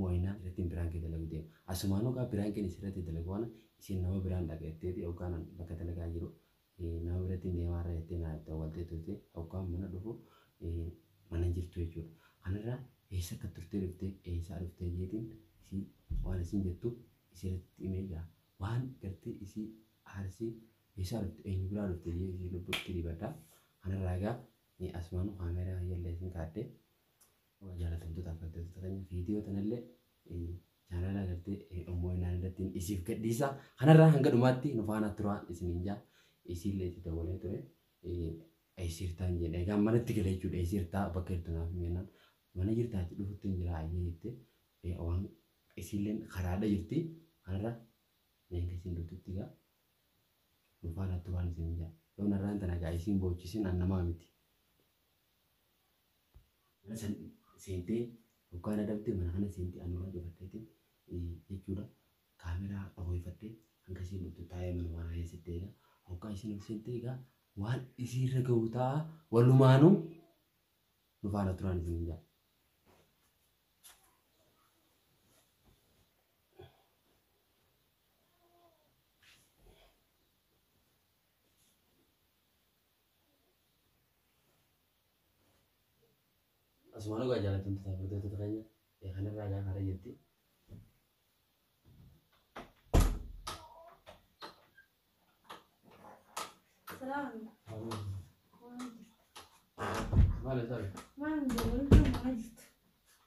mo'inaan irrattiin piraankii dalagu deema. Asumaanuu kaa piraankiin isirratti dalagu kana isiin nama biraan dhaqa jetteeti hoggaan an bakka dalagaa jiru nama birattiin deemaa irra jettee naa dawwaltee turte hoggaan mana dhufu mana hin jirtu jechuudha. Kanarraa eessa akka turtee dhuftee eessaa dhuftee jeetiin isii waan isiin jettu isirratti himee gaa waan gartee isii aarsii eessaa dhufte eenyu biraa dhufte jee isii lubbuutti dibadha. Kanarraa egaa asumaanuu kaameeraa kiyya illee isin kaadde Yaa jaalatamtoota hafgattoota keenya viidiyoo tanallee chaanaalaa gartee ummoo inaan irratti isiif gadhiisa. Kanarraa hanga dhumaatti nu faana turaa isiniin jaa. Isiillee itti dabalee ture. Eessirtaan jedhe. Egaa manatti gale jechuudha. Eessirtaa bakka jirtu naaf himennaan. Mana jirtaa itti dhufutti hin jira ayyee jette. Waan isiilleen karaadha jirti. Kanarra meeshaa isin dhuftutti gaa. Nu faana turaan isiniin jaa. Yoo narraan tana gaa isiin boochisin an namaa miti. mana san seentee hoggaa na dhabde mana kana seente anurraa cufatteetiin jechuudha kaameraa dhahooyfattee hanga isiin dhuftu taa'ee manuma kana keessatti eega hoggaa isiin ol seente egaa waan isiirra gahu ta'a walumaanuu nu faana turaan isin hin ja'a. Asumaan dhugaa jaallatamtu ta'a furdootoota keenya kanarraa gaafa irra jirti. Salaam. Maal ta'a? Maal jedhu? Maal jirtu?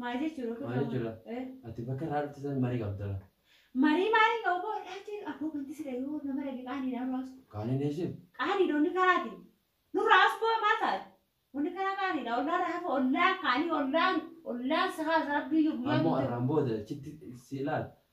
Maal jechuudha kun? Maal jechuudha? Ati bakka irraa dhufte san marii qabda. Marii maaliin qabu boo dhaatee abboo kan tisira yoo nama dhage qaanii dhaan raasu. Qaanii dheessin? Qaanii doonni karaati. Nurra as boo maal taate? Wanni karaa qaanii dha. Ollaan raafa ollaan qaanii ollaan ollaan sahaa rabbii yoo guyyaa. Ammoo arraan booda achitti si ilaal.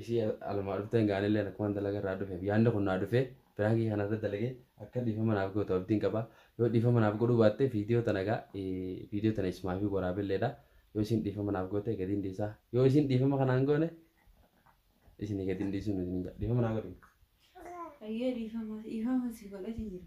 Ishii alumaa dhufteen gaa anilleen akkuman dalaga irraa dhufeef yaanni kun naa dhufee piraankii kana irra dalagee akka dhiifama naaf gootu abdiin qaba yoo dhiifama naaf godhuu baatte viidiyoo tana gaa viidiyoo tana ismaafii waraabelleedha yoo isiin dhiifama naaf goote gadiin dhiisaa yoo isiin dhiifama kanaan goone isinii gadiin dhiisuu nuti ninja dhiifama naa godhi Ayyee dhiifama dhiifama si godhati jira.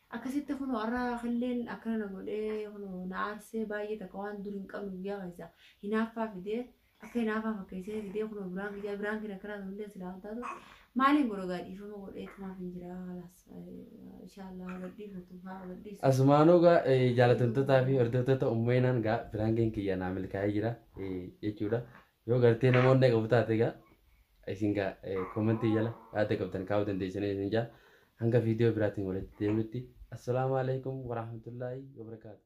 Akkasitti kunoo har'a killeen akkana na godhee kunoo na aarsee baay'ee takka waan dur hin qabne guyyaa keessa hinaaffaa fidee akka hinaafaa fakkeessee fidee kunoo biraan kiyyaa biraan kiyya akkanaa ta'ullee silaa hin taatu maaliin godha gaa dhiifama godhee tumaaf hin jira halaas inshaallah haa gadhiifatu haa gadhiisu. Asumaanuu gaa eh, jaalatamtootaa fi hordoftoota uummaynaan gaa biraangeen kiyya naa milkaa'ee jira eh, jechuudha. Yoo gartee nama onnee qabu taate egaa isin gaa koomentii jala yaada qabdan kaa'uu dandeessanii isin jaa hanga viidiyoo biraatiin walitti deemutti assalaamu alaikum warahmatullaahi wabarakaatu.